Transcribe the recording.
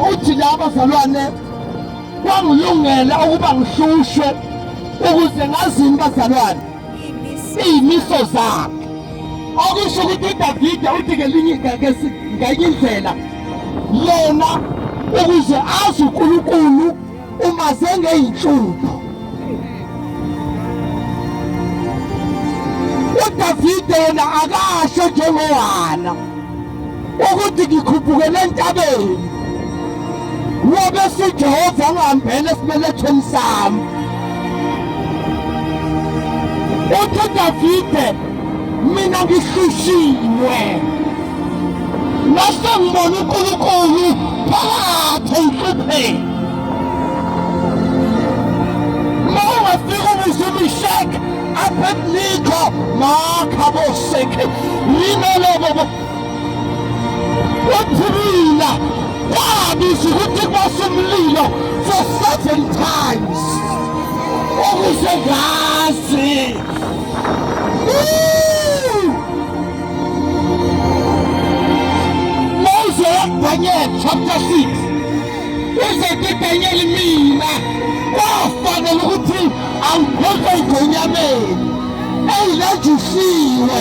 Uthi la bazalwane kwangilungela ukuba ngihlushwe ukuze ngazini bazalwane iyimiso zakhe okusho ukuthi uDavide uthi ngelinye ngenye indlela yena ukuze azi uNkulunkulu uma sengeyinhlupho uDavide yena akasho njengohana ukuthi ngikhuphukele entabeni ngoba sijehova ngihambele esibelethweni sami uthi udavide mina ngihlushilwe nase ngibona unkulunkulu phakathi enhlupheni ma ungafika ubuze umishek abednikho makha bosekhe limele bobo waphumila wabiza ukuthi kwase umlilo for seven times ukuze ngazi Mose Daniel chapter 6 uzothi Daniel mina kwafanele ukuthi awuphethwe igonyameni eyilajisiwe